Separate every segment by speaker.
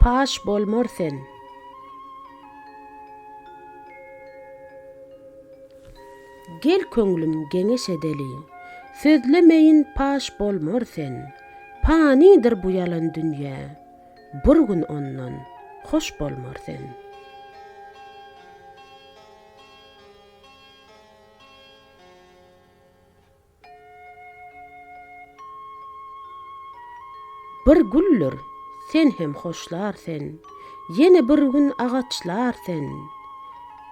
Speaker 1: Paş bolmar sen. Gel köňlüm geňeş edeli. Sözlemeýin paş bolmar sen. Panydyr bu ýalan dünýe. Bir gün ondan hoş bolmar sen. Bir güldir, sen hem hoşlar sen, Ýene bir gün agaçlar sen,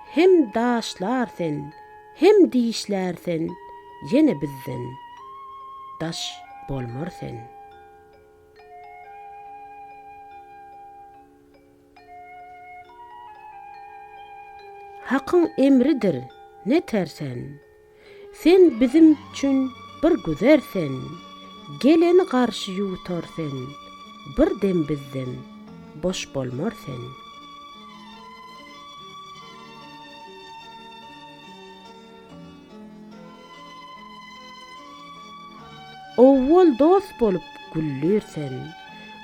Speaker 1: Hem daşlar sen, hem dişlär sen, Ýene bizden daş bolmar sen. Hakyň emridir, neter sen. Sen bizim çün bir güzer sen, Geleni garşy ýutar sen, Bir dem bizden boş bolmar sen. Owwal dost bolup güllirsen,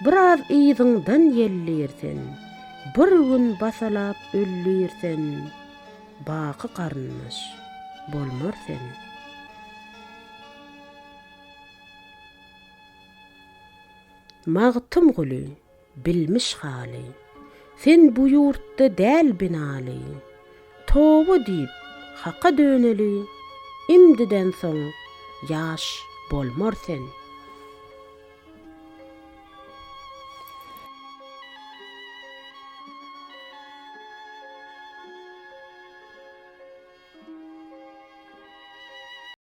Speaker 1: Biraz yzyňdan ýellirsen, Bir gün basalap öllirsen, Baky garyndaş bolmar sen. Magtymguly. Bilmiş haly, sen bu ýurtda däl binaly. Toba diýip, Haka döneli, imdiden soň ýaş bolmar sen.